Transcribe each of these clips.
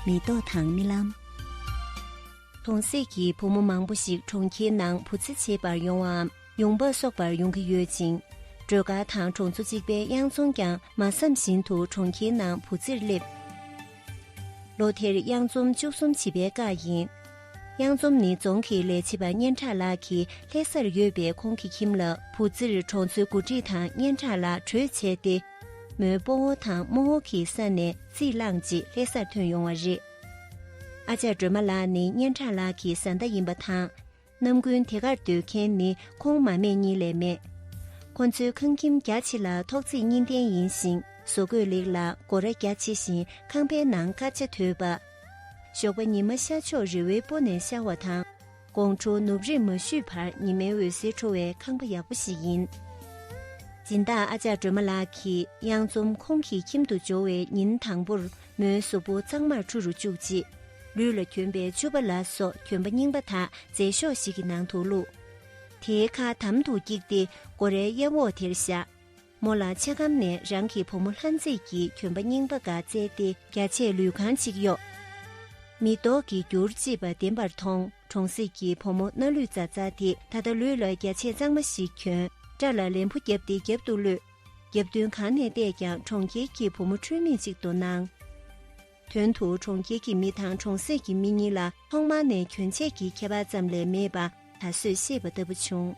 མེ་ཏོག་དང་རྨི་ལམ། གྲོང་གསེབ་ཀྱི་བུ་མོ་མང་པོ་ཞིག་གྲོང་ཁྱེར་ནང་བུ་ཚ་བྱེད་པར་ཡོང་བའམ་ཡོང་འབབ་གསོག་པར་ཡོང་གི་ཡོད་ཅིང། སྒྲོལ་དཀར་དང་གྲོང་ཚོ་གཅིག་པའི་གཡང་རྫོང་ཀྱང་མ་བསམ་བཞིན་དུ་གྲོང་ཁྱེར་ནང་བུ་ཚར་སླེབས། ལོ་དེར་གཡང་རྫོང་བཅུ་གསུམ་བྱིས་པའི་སྐབས་ཡིན། གཡང་རྫོང་ནི་རྫོང་གི་ལས་བྱེད་པ་སྙན་གྲགས་ལགས་ཀྱི་ལྷས་སར་ཡོད་པའི་ཁོང་གི་ཁྱིམ་ལ་བུ་ཚར་གྲོང་ཚོའི་འགོ་ཁྲིད་དང་སྙན་གྲགས་ལགས་གྲོས་བྱས་ཏེ། མོའི་སྤོ་བོ་དང་རྨོ་བོ་གི་ས་ནས་རྩིས་བླངས་ཅིག་ལྷེ་སར་ཐོན་ཡོང་བ་རེད། ཨ་ཅག་སྒྲོལ་མ་ལགས་ནི་སྙན་གྲགས་ལགས་ཀྱི་བཟའ་ཟླ་ཡིན་པ་དང། རྣམ་ཀུན་དེ་གར་སྡོད་མཁན་ནི་ཁོང་མ་མེད་གཉིས་ལས་མེད། ཁོ་ཚོའི་ཁང་ཁྱིམ་རྒྱ་ཆེ་ལ་ཐོག་བརྩེགས་གཉིས་ལྡན་ཡིན་ཞིང་བཟོ་བཀོད་ལེགས་ལ་སྒོ་ར་རྒྱ་ཆེ་བཞིན་ཁང་པའི་ནང་དཀར་ཆ་དོད་པ། ཞོགས་པ་ཉི་མ་ཤར་ཕྱོགས་རི་བོའི་སྤོ་ནས་ཤར་བ་དང། དགོང་དྲོ་ནུབ་རེས་མ་བཞུད་བར་ཉི་མའི་འོད་ཟེར་འཕྲོ་བའི་ཁང་པ་ཡག་པོ་ཞིག་ཡིན། སྦྱིན་བདག་ཨ་ཅག་སྒྲོལ་མ་ལགས་ཀྱིས་གཡང་འཛོམས་ཁོང་གི་ཁྱིམ་དུ་འབྱོར་བའི་ཉིན་དང་པོར་མོའི་གཟུགས་པོ་གཙང་མར་འཁྲུ་རུ་བཅུག་རྗེས། ལུས་ལ་གྱོན་པའི་ཆུ་བ་ལ་སོགས་གྱོན་པ་རྙིང་པ་དག་རྫས་ཤོག་ཞིག་གི་ནང་དུ་བླུགས། དེའི་ཁ་དམ་དུ་བཀྱིགས་ཏེ་སྒོ་རའི་གཡས་འོག་དེར་བཞག། མོ་ལ་ཆེ་གམ་ནས་རང་གི་བུ་མོ་ལྷ་མཛེས་ཀྱི་གྱོན་པ་རྙིང་པ་འགའ་བསྩལ་ཏེ་རྒྱ་ཆད་ལུས་གང་ཅིག་གཡོགས། མི་ལྡོག་གི་རྒྱུར་ལྕི་བ་བདེན་པར་མཐོང་གྲོང་གསེབ་ཀྱི་བུ་མོ་སྣ་ལུད་ཙག་ཙག་དེ་ད་ལྟ་ལུས་ལ་རྒྱ་ཆད་གཙང་མ་ཞིག་གྱོན་སྐྲ་ལ་ལན་བུ་བརྒྱབ་སྟེ་རྒྱབ་ཏུ་གློད། རྒྱབ་མདུན་གང་ནས་བལྟས་ཀྱང་གྲོང་ཁྱེར་གྱི་བུ་མོ་འཁྲུལ་མིང་ཅིག་ཏུ་སྣང། དོན་དུ་གྲོང་ཁྱེར་གྱི་མི་དང་གྲོང་གསེབ་ཀྱི་མི་གཉིས་ལ་ཐོག་མ་ནས་གྱོན་ཆས་ཀྱི་ཁྱད་པར་ཙམ་ལས་མེད་པ་ད་གཟོད་ཤེས་པ་ལྟ་བུ་བྱུང།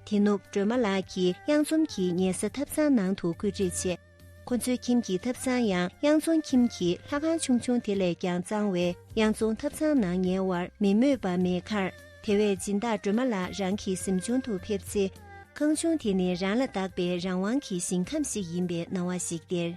དེ་ནུབ་སྒྲོལ་མ་ལགས་ཀྱིས་གཡང་འཛོམས་ཀྱི་ཉལ་ས་ཐབ་ཚང་ནང་དུ་བཀོད་སྒྲིག་བྱས། ཁོ་ཚོའི་ཁྱིམ་གྱི་ཐབ་ཚང་ཡང་གཡང་འཛོམས་ཁྱིམ་གྱི་ལྷ་ཁང་ཆུང་ཆུང་དེ་ལས་ཀྱང་གཙང་བས་གཡང་འཛོམས་ཐབ་ཚང་ནང་ཉལ་བར་མི་མོས་པ་མེད་ཁར། དེ་བས་སྦྱིན་བདག་སྒྲོལ་མ་ལགས་རང་གི་གཟིམ་ཆུང་དུ་ཕེབས་ཚེ། ཁང་ཆུང་དེ་ནི་རང་ལ་བདག་པའི་རང་དབང་གི་ཞིང་ཁམས་ཤིག་ཡིན་པའི་སྣང་བ་ཞིག་སྟེར།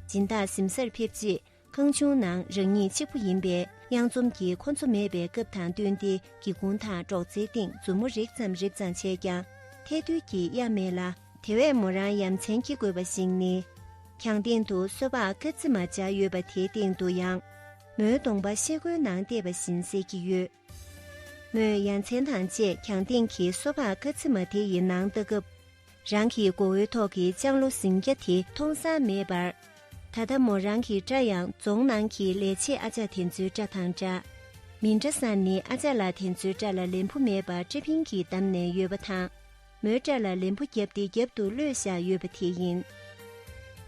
སྦྱིན་བདག་གཟིམ་སར་ཕེབས་རྗེས་ཁང་ཆུང་ནང་རང་ཉིད་གཅིག་པུ་ཡིན་པས་གཡང་འཛོམས་ཀྱིས་ཁོ་འཚོ་མེད་པའི་སྐབས་དང་བསྟུན་ཏེ་སྒེའུ་ཁུང་དང་སྒྲོག་ཙེའི་སྟེང་མཛུབ་མོ་རེག་ཙམ་རེབ་ཙམ་བྱས་ཀྱང་ཐལ་རྡུལ་གྱིས་གཡར་མེད་ལ། དེ་བས་མོ་རང་ཡ་མཚན་སྐྱེ་དགོས་པ་ཞིག་ནི། གྱང་སྟེང་དུ་སོལ་བ་དཀར་རྩི་མ་སྦྱར་ཡོད་པ་དེའི་སྟེང་དུ་ཡང། མོའི་གདོང་པ་ཤེལ་སྒོའི་ནང་བལྟས་པ་བཞིན་གསལ་གྱི་ཡོད། མོས་ཡ་མཚན་དང་བཅས་གྱང་སྟེང་གི་སོ་ཕག་དཀར་རྩི་མ་དེ་ཡི་ནང་བལྟ་སྐབས། རང་གི་མགོ་བོའི་ཐོག་གི་ལྕང་ལོ་ཟིང་སྐྱ་དེ་མཐོང་ས་མེད་པར། ད་ལྟ་མོ་རང་གི་སྐྲ་ཡང་རྫོང་ནང་གི་ལས་བྱེད་ཨ་ཅག་དེ་ཚོའི་སྐྲ་དང་འདྲ། མི་འདྲ་ས་ནི་ཨ་ཅག་ལ་དེ་ཚོའི་སྐྲ་ལ་ལན་བུ་མེད་པར་སྐྲ་ཕིང་གིས་བསྡམས་ནས་ཡོད་པ་དང། མོའི་སྐྲ་ལ་ལན་བུ་བརྒྱབ་སྟེ་རྒྱབ་ཏུ་གློད་བཞག་ཡོད་པ་དེ་ཡིན།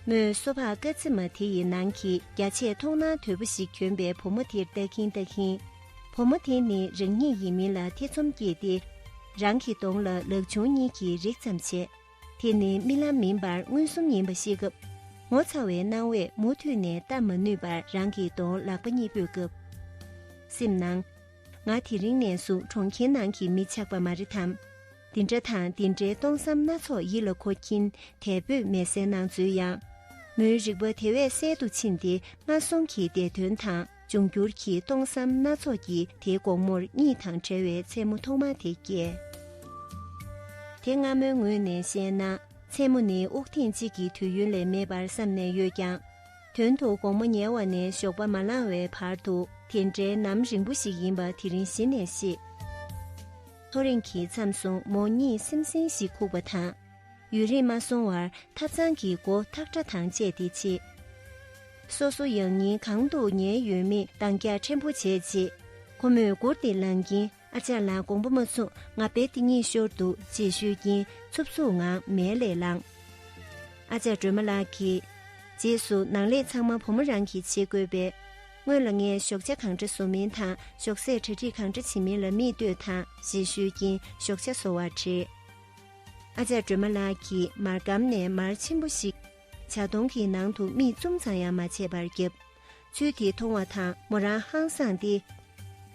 མོས་སོ་ཕག་སྐ་ཚེ་མ་དེ་ཡི་ནང་གི་རྒྱ་ཆད་མཐོང་ན་དོལ་པོ་ཞིག་གྱོན་པའི་བུ་མོ་དེར་ལྟ་གིན་ལྟ་གིན། བུ་མོ་དེ་ནི་རང་ཉིད་ཡིན་མིན་ལ་ཐེ་ཚོམ་སྐྱེས་ཏེ། རང་གི་གདོང་ལ་ལག་ཆུང་གཉིས་ཀྱིས་རེག་ཙམ་བྱས། དེ་ནི་རྨི་ལམ་མིན་པར་མངོན་སུམ་ཡིན་པ་ཤེས་སྐབས། ངོ་ཚ་བའི་སྣང་བས་མུ་མཐུད་ནས་བལྟ་མ་ནུས་པར་རང་གི་གདོང་ལག་པ་གཉིས་སྤོས་སྐབས། སེམས་ནང། ང་དེ་རིང་ནས་བཟུང་གྲོང་ཁྱེར་ནང་གི་མི་ཆགས་པ་མ་རེད་དམ། འདི་འདྲ་དང་འདི་འདྲའི་སྟོང་བསམ་སྣ་ཚོགས་ཡིད་ལ་འཁོར་གྱིན་དལ་བུས་མལ་སའི་ནང་འཛུལ་ཡང། མོའི་རིག་པ་དེ་བས་གསལ་དུ་ཕྱིན་ཏེ་ང་གསུམ་གྱི་འདས་དོན་དང་འབྱུང་འགྱུར་གྱི་སྟོང་བསམ་སྣ་ཚོགས་ཀྱི་དེའི་དགོང་མོར་གཉིད་དང་བྲལ་བའི་མཚན་མོ་ཐོག་མ་དེ་བསྐྱལ། དེ་སྔ་མོའི་ངོས་ནས་བཤད་ན་མཚན་མོ་ནི་དབུགས་ཐེངས་གཅིག་གི་དུས་ཡུན་ལས་མེད་པར་བསམ་ནས་ཡོད་ཀྱང། དོན་དུ་དགོང་མོ་ཉལ་བ་ནས་ཞོགས་པ་མ་ལངས་བའི་བར་དུ་དེ་འདྲའི་ནམ་རིང་པོ་ཞིག་ཡིན་པ་དེ་རིང་གཞི་ནས་ཤེས། ཐོ་རེངས་ཀྱི་མཚམས་སོང་མོ་གཉིད་སིམ་སིམ་ཞིག་ཁུག་པ་དང། ཡུན་རིང་མ་སོང་བར་ཐབ་ཚང་གི་སྒོ་ཐག་སྒྲ་དང་བཅས་ཏེ་ཕྱེས། སོ་སོ་ཡང་ཉིན་གང་དུ་ཉལ་ཡོད་མེད་འདང་རྒྱག་ཕྲན་བུ་བྱས་རྗེས་ཁོ་མོས་མགུར་འདི་ལངས་ཀྱིན། ཨ་ཅག་ལ་དགོངས་པ་མ་ཚུགས་ང་དཔེ་དེ་གཉིས་ཤོར་འདུག་ཅེས་ཤོད་ཀྱིན་འཚུབ་འཚུབ་ངང་མལ་ལས་ལངས། ཨ་ཅག་སྒྲོལ་མ་ལགས་ཀྱིས། རྗེས་སུ་ནང་ལས་ཚང་མ་བུ་མོ་རང་གིས་བྱེད་དགོས་པས། སྔོན་ལ་ངས་ཞོགས་ཇ་གང་འདྲ་བཟོ་མིན་དང་ཞོགས་ཟས་གྲ་སྒྲིག་གང་འདྲ་བྱེད་མིན་ལ་མི་ལྟོས་དང་ཞེས་ཤོད་ཀྱིན་ཞོགས་ཇ་བཟོ་བར་བྲེལ། ཨ་ཅག་སྒྲོལ་མ་ལགས་ཀྱིས་མར་སྒམ་ནས་མར་ཆེན་པོ་ཞིག། ཇག་སྟོང་གི་ནང་དུ་རྨིས་བཙུམ་ཙམ་ཡང་མ་བྱས་པར་བརྒྱབ། ཚུལ་དེ་མཐོང་བ་དང་མོ་རང་ཧང་སངས་ཏེ།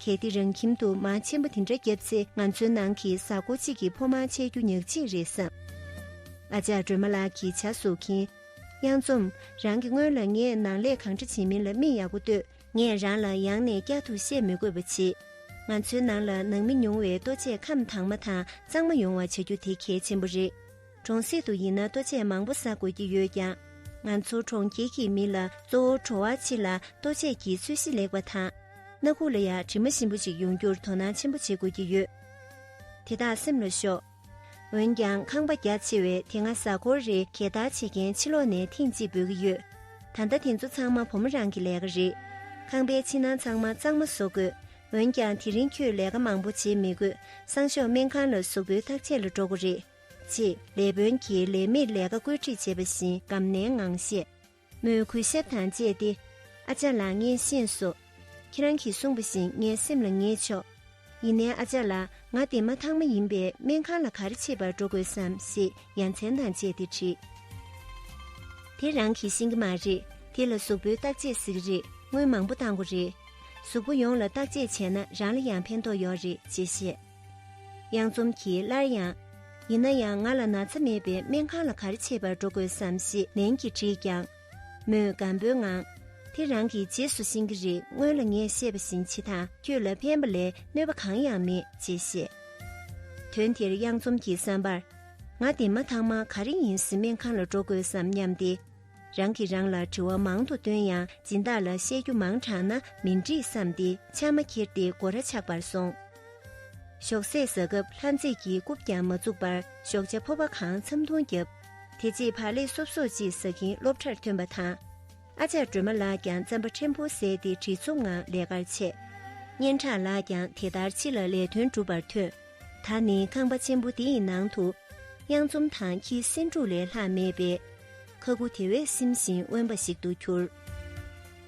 གལ་ཏེ་རང་ཁྱིམ་དུ་མ་ཆེན་པོ་དེ་འདྲ་བརྒྱབ་ཚེ་ང་ཚོའི་ནང་གི་བཟའ་སྒོ་གཅིག་གི་ཕོ་མང་ཆད་རྒྱུ་ཉག་གཅིག་རེད་བསམ། ཨ་ཅག་སྒྲོལ་མ་ལགས་ཀྱིས་བྱ་བཟོ་མཁན། གཡང་འཛོམ། རང་གི་སྔོན་ལ་ངས་ནང་ལས་གང་འདྲ་བྱེད་མིན་ལ་དམིགས་ཡག་པོ་ལྟོས། ངས་རང་ལ་ཡང་ནས་བསྐྱར་དུ་བཤད་མི་དགོས་པ་བྱེད། ང་ཚོའི་ནང་ལ་ནང་མི་ཉུང་བའི་ལྟོ་ཆས་ཁམས་དྭངས་མ་དང་གཙང་མ་ཡོང་བ་བྱ་རྒྱུ་དེ་གལ་ཆེན་པོ་རེད། གྲོང་གསེབ་ཏུ་ཡིན་ན་ལྟོ་ཆས་མང་པོ་ཟ་དགོས་ཀྱི་ཡོད་ཀྱང། ང་ཚོ་གྲོང་ཁྱེར་གྱི་མི་ལ་གཙོ་བོ་བྲོ་བ་ཆེ་ལ་ལྟོ་ཆས་ཀྱི་ཚོད་གཞི་ལེགས་པ་དང། སྣ་ཁུག་ལ་ཡང་དྲི་མ་ཞིམ་པོ་ཞིག་ཡོང་རྒྱུར་དོ་སྣང་ཆེན་པོ་བྱེད་དགོས་ཀྱི་ཡོད། དེ་དག་སེམས་ལ་ཞོག། འོན་ཀྱང་ཁང་པ་རྒྱ་ཆེ་བས་དེ་སྔ་གཟའ་འཁོར་རེ་གད་བདར་བྱེད་མཁན་ཕྱི་ལོགས་ནས་ཐེངས་གཅིག་འབོད་ཀྱི་ཡོད། ད་ལྟ་དེ་ཚོ་ཚང་མ་བུ་མོ་རང་གི་ལས་ཀ་རེད། ཁང་པའི་ཕྱི་ནང་ཚང་མ་གཙང་མ་བཟོ་དགོས། འོན་ཀྱང་དེ་རིང་ཁྱོས་ལས་ཀ་མང་པོ་བྱེད་མི་དགོས་སང་ཞོགས་སྨན་ཁང་ལ་གཟུགས་པོའི་བརྟག་དཔྱད་ལ་འགྲོ་དགོས་རེད། ཅེས་ལས་དཔོན་གྱིས་ལས་མིར་ལས་ཀ་བཀོད་སྒྲིག་བྱེད་པ་བཞིན་སྒམ་ནན་ངང་བཤད། མོས་གུས་ཞབས་དང་བཅས་ཏེ། ཨ་ཅག་ལགས་ངས་ཤེས་སོ། ཁྱེད་རང་གིས་གསུངས་པ་བཞིན་ངའི་སེམས་ལ་ངེས་ཆོག། ཡིན་ནའི་ཨ་ཅག་ལགས་ང་བདེ་མ་ཐང་མ་ཡིན་པས་སྨན་ཁང་ལ་ག་རེ་བྱེད་པར་འགྲོ་དགོས་སམ་ཞེས་ཡ་མཚན་དང་བཅས་ཏེ་དྲིས། དེ་རང་གིས་ཤེས་ཀྱི་མ་རེད་དེ་ལ་གཟུགས་པོའི་བརྟག་དཔྱད་ཟིག་རེད་དངུལ་མང་པོ་བཏང་གོ་རེད། གཟུགས་པོ་ཡོངས་ལ་བརྟག་དཔྱད་བྱས་ན་རང་ལ་ཡང་ཕན་ཐོགས་ཡོད་རེད་ཅེས་བཤད། གཡང་འཛོམས་ཀྱིས་སླར་ཡང། ཡིན་ན་ཡང་ང་ལ་ན་ཚ་མེད་པས་སྨན་ཁང་ལ་གར་ཆེད་པར་འགྲོ་དགོས་སམ་ཞེས་ནན་གྱིས་དྲིས་ཀྱང། མོས་སྒམ་པོའི་ངང། དེ་རང་གི་རྗེས་སུ་ཕྱིན་གྱི་རེད་སྔོན་ལ་ངས་བཤད་པ་བཞིན་བྱེད་དང་ཁྱོད་ལ་ཕན་པ་ལས་གནོད་པ་གང་ཡང་མེད་ཅེས་བཤད། དོན་དེར་གཡང་འཛོམས་ཀྱི་བསམ་པར། ང་འདི་མ་ཐག་མ་ག་རེ་ཡིན་ཟིན་སྨན་ཁང་ལ་འགྲོ་དགོས་སམ་སྙམ་སྟེ། རང་གིས་རང་ལ་དྲི་བ་མང་དུ་བཏོན་ཡང་སྦྱིན་བདག་ལ་བཤད་རྒྱུ་མང་དྲགས་ན་མི་འགྲིག་བསམས་ཏེ་ཕྱགས་མ་ཁྱེར་ཏེ་སྒོ་ར་ཆགས་པར་སོང། ཞོགས་ཟས་ཟ་སྐབས་ལྷ་མཛེས་ཀྱིས་རྐུབ་ཀྱང་མ་བཙུགས་པར་ཞོགས་བྱ་ཕོ་བ་གང་འཚམས་འཐུང་བརྒྱབ། དེ་རྗེས་བག་ལེབ་སོབ་སོབ་ཅིག་ཟ་གིན་སློབ་གྲྭར་ཐོན་པ་དང། ཨ་ཅག་སྒྲོལ་མ་ལགས་ཀྱང་རྩམ་པ་ཕྲན་བུ་བཟས་ཏེ་དྲི་ཚོམ་ངང་ལས་ཀར་ཆས། སྙན་གྲགས་ལགས་ཀྱང་དེ་ལྟར་ཕྱི་ལ་ལས་དོན་སྒྲུབ་པར་ཐོན། ད་ནི་ཁང་པ་ཆེན་པོ་དེའི་ནང་དུ་གཡང་འཛོམས་དང་ཁྱི་སེང་དྲུག་ལས་ལྷག་མེད་པས། ཁ་ཁུ་དེ་བས་སིམ་ཞིང་དབེན་པ་ཞིག་ཏུ་གྱུར།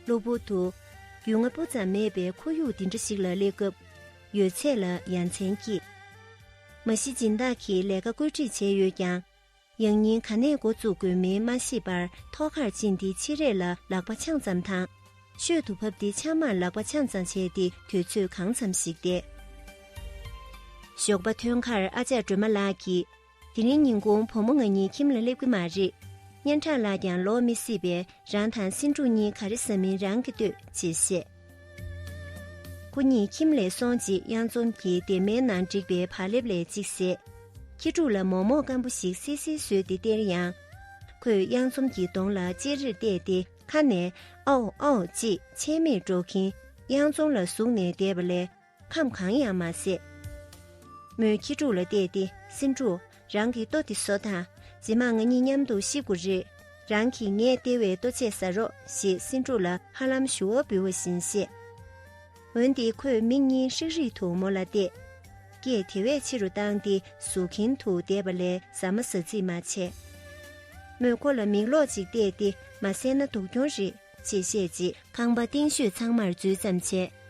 གློ་བུར་དུ། རྒྱུས་མངའ་སྤུ་ཙམ་མེད་པའི་ཁོར་ཡུག་འདི་འདྲ་ཞིག་ལ་སླེབས་སྐབས་ཡོད་ཚད་ལ་ཡ་མཚན་སྐྱེས། མ་གཞི་སྦྱིན་བདག་གིས་ལས་ཀ་བཀོད་སྒྲིག་བྱས་ཡོད་ཀྱང། ཡང་ཉིན་ག་ནས་འགོ་བཙུགས་དགོས་མིན་མ་ཤེས་པར་ཐོག་ཁར་ཕྱིན་ཏེ་ཕྱི་རས་ལ་ལག་པ་འཆང་ཙམ་དང། ཤོད་དུ་བབས་ཏེ་ཕྱགས་མར་ལག་པ་འཆང་ཙམ་བྱས་ཏེ་དུས་ཚོད་གང་འཚམ་ཞིག་བསྡད། ཞོགས་པ་ཐོན་ཁར་ཨ་ཅག་སྒྲོལ་མ་ལགས་ཀྱིས། དེ་རིང་ཉིན་གུང་བུ་མོ་ང་གཉིས་ཁྱིམ་ལ་སླེབས་ཀྱི་མ་རེད། སྙན་གྲགས་ལགས་ཀྱང་ལོག་མི་སྲིད་པས་རང་དང་སེང་འབྲུག་གཉིས་ག་རེ་ཟ་མིན་རང་གིས་ལྟོས་ཅེས་བཤད། སྐུ་ཉིད་ཁྱིམ་ལས་སོང་རྗེས་གཡང་འཛོམས་ཀྱི་སྡེར་མའི་ནང་བསྒྲིགས་པའི་བག་ལེབ་ལས་གཅིག་བཟས། ཁྱི་ཕྲུག་ལ་མོག་མོག་སྐམ་པོ་ཞིག་བསིལ་བསིལ་ཟོས་ཏེ་སྟེར་ཡང། ཁོས་གཡང་འཛོམས་ཀྱི་གདོང་ལ་ཅེ་རེར་བལྟས་ཏེ་ཁ་ནས་ཨའོ་ཨའོ་ཅེས་ཆད་མེད་སྒྲོག་གིན་གཡང་འཛོམས་ལ་ཟུག་ནས་བསྡད་པ་ལས། ཁམས་གང་ཡང་མ་ཟད། མོས་ཁྱི་ཕྲུག་ལ་བལྟས་ཏེ་སེམས་ཕྲུག་རང་གི་ལྟོ་དེ་ཟོ་དང་རྗེས་མ་ང་གཉིས་མཉམ་དུ་ཤི་དགོ་རེད། རང་གིས་ངས་སྟེར་བའི་ལྟོ་ཆས་ཟ་རོགས་ཞེས་སེམས་ཕྲུག་ལ་ཧ་ལམ་ཞུ་བ་འབུལ་བ་བཞིན་བཤད། འོན་ཏེ་ཁོས་མིག་གཉིས་ཧྲིག་ཧྲིག་ཏུ་མོ་ལ་བལྟས། སྐད་དེ་བས་ཆེ་རུ་བཏང་སྟེ་ཟུག་གིན་དུ་བསྡད་པ་ལས་ཟ་མ་ཟ་རྩིས་མ་བྱས། མོས་ཁོ་ལ་མིག་ལོག་ཅིག་བལྟས་ཏེ་མ་བསད་ན་སྡུག་གྱོང་རེད། ཅེས་བཤད་རྗེས་ཁང་པ་སྟེང་ཤོད་ཚང་མར་འཛུལ་ཙམ་བྱས།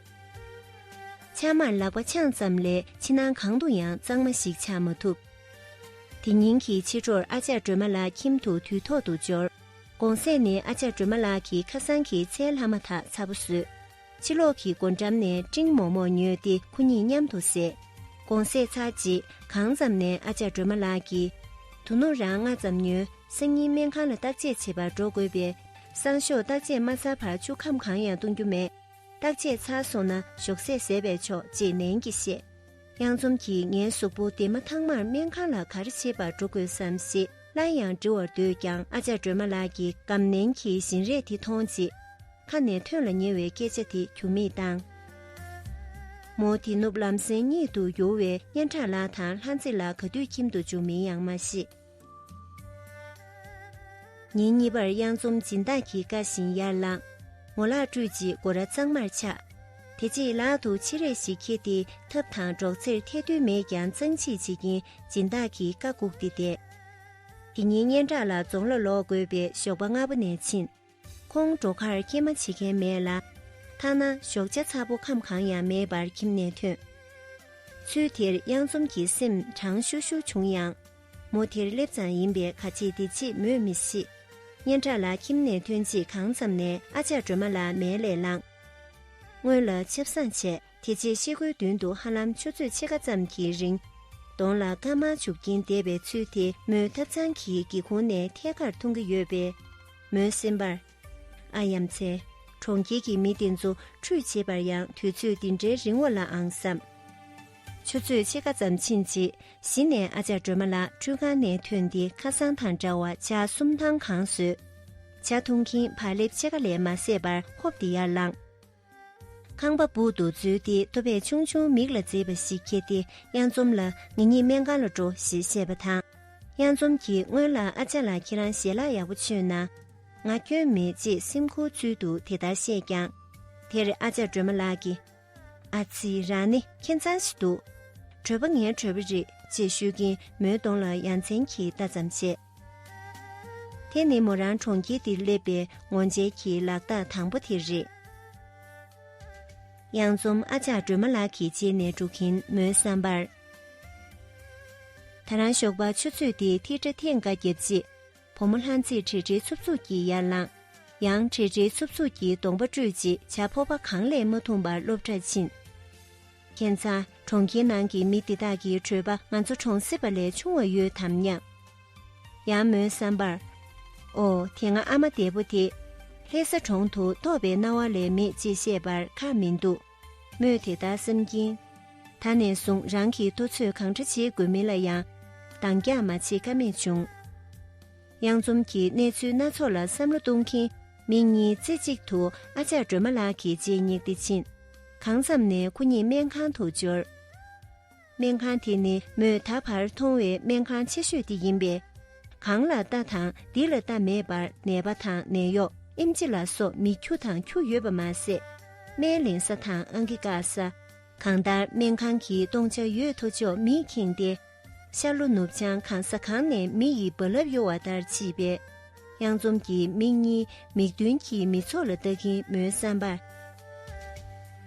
ཕྱགས་མར་ལག་པ་འཆང་ཙམ་ལས་ཕྱི་ནང་གང་དུ་ཡང་གཙང་མ་ཞིག་ཆགས་མ་ཐུབ། དེ་ཉིན་གྱི་ཕྱི་དྲོར་ཨ་ཅག་སྒྲོལ་མ་ལགས་ཁྱིམ་དུ་དུས་ཐོག་ཏུ་འབྱོར། དགོང་ཟས་ནི་ཨ་ཅག་སྒྲོལ་མ་ལགས་ཀྱིས་ཁ་སང་གི་ཚྭའི་ལྷག་མ་དག་ཚ་པོ་ཟོས། ཕྱི་ལོགས་ཀྱི་སྒོ་འགྲམ་ནས་སྤྲིང་མོག་མོག་ཉོས་ཏེ་ཁོ་གཉིས་མཉམ་དུ་བསྲེས། དགོང་ཟས་ཚར་རྗེས་གང་ཙམ་ནས་ཨ་ཅག་སྒྲོལ་མ་ལགས་ཀྱིས། དོ་ནུབ་རང་སྔ་ཙམ་ཉོན་སང་ཉིན་སྨན་ཁང་ལ་བརྟག་དཔྱད་བྱེད་པར་འགྲོ་དགོས་པས། སང་ཞོགས་བརྟག་དཔྱད་མ་ཚར་བར་ཆུ་ཁམ་གང་ཡང་བཏུང་རྒྱུ་མེད། བརྟག་དཔྱད་ཚར་སོང་ན་ཞོགས་ཟས་ཟས་པས་ཆོག་ཅེས་ནན་གྱིས་བཤད། གཡང་འཛོམས་ཀྱིས་ངའི་གཟུགས་པོ་དེ་མ་ཐག་མར་སྨན་ཁང་ལ་ག་རེ་བྱེད་པར་འགྲོ་དགོས་སམ་ཞེས་སླར་ཡང་འདྲི་བར་འདོད་ཀྱང་ཨ་ཅག་སྒྲོལ་མ་ལགས་ཀྱིས་སྒམ་ནན་གྱི་བཞིན་རས་དེ་མཐོང་རྗེས། ཁ་ནས་ཐོན་ལ་ཉེ་བའི་སྐད་ཆ་དེ་གྱུར་མིད་བཏང། མོ་དེ་ནུབ་ལམ་སེང་གཉིད་དུ་ཡུར་བའི་སྙན་གྲགས་ལགས་དང་ལྷ་མཛེས་ལགས་ག་དུས་ཁྱིམ་དུ་འཇུག་མིན་ཡང་མ་ཤེས། ཉིན་གཉིས་པར་དབྱངས་རྩོམ་སྦྱིན་བདག་གིས་བཀའ་བཞིན་ཡར་བླངས། ངོ་ལག་བཀྲུས་རྗེས་སྒོ་ར་གཙང་མར་ཕྱགས། དེ་རྗེས་ལག་ཏུ་ཕྱེ་རས་ཤིག་འཁྱེར་ཏེ་ཐབ་དང་སྒྲོག་ཙེར་ཐལ་རྡུལ་མེད་ཀྱང་གཙང་གཅིག་བྱེད་ཀྱིན་སྦྱིན་བདག་གི་བཀའ་བསྒུགས་ཏེ་བསྡད། དེ་ཉིན་སྙན་གྲགས་ལ་རྫོང་ལ་ལོག་དགོས་པས་ཞོགས་པ་སྔ་པོ་ནས་ཕྱིན། ཁོང་འགྲོ་ཁར་སྐྱེལ་མ་བྱེད་མཁན་མེད་ལ། ཐ་ན་ཞོགས་ཆ་ཚ་པོ་ཁམ་གང་ཡང་མེད་པར་ཁྱིམ་ནས་ཐོན། ཚུལ་དེར་གཡང་འཛོམས་ཀྱི་སེམས་གྲང་ཤུར་ཤུར་བྱུང་ཡང། མོ་དེར་སླེབས་ཙང་ཡིན་པས་ག་ཅེས་འདི་ཅེས་མོས་མི་ཤེས། སྙན་གྲགས་ལགས་ཁྱིམ་ནས་ཐོན་རྗེས་གང་ཙམ་ནས་ཨ་ཅག་སྒྲོལ་མ་ལ་མལ་ལས་བླངས། སྔོན་ལ་ཆབ་བསང་བྱས། དེ་རྗེས་ཤེལ་སྒོའི་མདུན་དུ་ཧ་ལམ་ཆུ་ཚོད་ཕྱེད་ཀ་ཙམ་གྱི་རིང། གདོང་ལ་སྐར་མ་བྱུགས་ཀྱིན་བསྡད་པའི་ཚུལ་དེ་མོའི་ཐབ་ཚང་གི་སྒེའུ་ཁུང་ནས་ཐད་ཀར་མཐོང་གི་ཡོད་པས། མོའི་སེམས་པར། ཨ་ཡ་མཚན། གྲོང་ཁྱེར་གྱི་མི་དེ་ཚོ་ཁྲུས་བྱེད་པར་ཡང་དུས་ཚོད་འདི་འདྲའི་རིང་བོ་ལ་ཨང་བསམ། ཆུ་ཚོད་ཕྱེད་ཀ་ཙམ་ཕྱིན་རྗེས་གཞི་ནས་ཨ་ཅག་སྒྲོལ་མ་ལགས་ཁྲུས་ཁང་ནས་ཐོན་ཏེ་ཁ་སང་དང་འདྲ་བར་ཆ་གསུམ་ཐང་གང་ཟོས། ཆ་འཐུང་གིན་བག་ལེབ་ཕྱེད་ཀ་ལས་མ་བཟད་པར་ཧོབ་སྟེ་ཡར་ལངས། ཁང་པ་སྦུག་ཏུ་འཛུལ་ཏེ་ཐུ་བས་ཆུང་ཆུང་མིག་ལ་མཛེས་པ་ཞིག་ཁྱེར་ཏེ་གཡང་འཛོམས་ལ་ངེད་གཉིས་སྨན་ཁང་ལ་འགྲོ་ཞེས་བཤད་པ་དང། གཡང་འཛོམས་ཀྱིས་སྔོན་ལ་ཨ་ཅག་ལ་ཁྱེད་རང་ཞལ་ལག་ཡག་པོ་མཆོད་ན། ང་སྐྱོན་མེད་ཅེས་སེམས་འཁུར་ཚུལ་དུ་དེ་ལྟར་བཤད་ཀྱང། དེར་ཨ་ཅག་སྒྲོལ་མ་ལགས་ཀྱིས། ཨ་ཙི་རང་ནི་མཁྱེན་མཛངས་ཤིག་འདུག། གྲོད་པ་ངའི་གྲོད་པ་རེད་ཅེས་ཤོད་ཀྱིན་མོའི་གདོང་ལ་ཡ་མཚན་གྱི་ལྟ་ཙམ་བྱས། དེ་ནི་མོ་རང་གྲོང་ཁྱེར་འདིར་སླེབས་པའི་ངོ་མཇལ་གྱི་ལག་རྟགས་དང་པོ་དེ་རེད། གཡང་འཛོམ་ཨ་ཅག་སྒྲོལ་མ་ལགས་ཀྱི་རྗེས་ནས་འགྲོ་གིན་མོའི་བསམ་པར། ད་རང་ཞོགས་པ་ཆུ་ཚོད་དེ་ཐིག་སྒྲ་ཐེངས་འགའ་བརྒྱབ་རྗེས། བུ་མོ་ལྷ་མཛེས་བྲེལ་བྲེལ་འཚུབ་འཚུབ་ཀྱིས་ཡར་ལངས། ཡང་བྲེལ་བྲེལ་འཚུབ་འཚུབ་ཀྱིས་གདོང་པ་བཀྲུས་རྗེས་བྱ་ཕོར་པ་གང་ལས་མ་འཐུངས་པར་སློབ་གྲྭར་ཕྱིན། མཁས་མཛངས་གྲོང་ཁྱེར་ནང་གི་མི་དེ་དག་གི་གྲོད་པ་ང་ཚོ་གྲོང་གསེབ་པ་ལས་ཆུང་བ་ཡོད་དམ་སྙམ། ཡང་མོའི་བསམ་པར། ཨོ་དེ་ང་ཨ་མ་འདས་པོ་དེ། ལྷས་ས་གྲོང་དུ་ཐོབ་པའི་རྣ་བ་ལས་མེད་ཅེས་བཤད་པར་ཁག་མི་འདུག་མོས་དེ་ལྟར་བསམ་གྱིན། ད་ནས་བཟུང་རང་གིས་ལྟོ་ཚོད་གང་འདྲ་བྱེད་དགོས་མིན་ལ་ཡང་འདང་རྒྱག་མ་བྱེད་ཀ་མེད་བྱུང། དབྱངས་འཛོམས་ཀྱིས་གནས་ཚུལ་སྣ་ཚོགས་ལ་བསམ་བློ་གཏོང་གིན་མིག་གཉིས་རྩེ་གཅིག་ཏུ་ཨ་ཅག་སྒྲོལ་མ་ལགས་ཀྱི་རྗེས་བསྙེགས་ཏེ་ཕྱིན། གང་ཙམ་ནས་ཁོ་གཉིས་སྨན་ཁང་དུ་འབྱོར། སྨན་ཁང་དེ་ནི་མོས་ད་བར་མཐོང་བའི་སྨན་ཁང་ཆེ་ཤོས་དེ་ཡིན་པས། གང་ལ་ལྟ་དང་འདི་ལ་ལྟ་མེད་པར་ནད་པ་དང་ནད་གཡོག་ཨིམ་ཅི་ལ་སོགས་མི་ཁྱུ་དང་ཁྱུ་ཡོད་པ་མ་ཟད། སྨན་ལེན་ས་དང་ཨང་ཀི་བཀག་ས། གང་ལྟར་སྨན་ཁང་གི་སྟོང་ཆ་ཡོད་དོ་ཅོག་མིས་ཁེངས་ཏེ། ཤར་ལྷོ་ནུབ་བྱང་གང་ས་གང་ནས་མི་ཡི་རྦ་རླབས་གཡོ་བ་ལྟར་མཆིས་པས། གཡང་འཛོམས་ཀྱི་མིག་གཉིས་མིག་མདུན་གྱི་མི་ཚོགས་ལ་ལྟ་གིན་མོའི་བསམ་པར།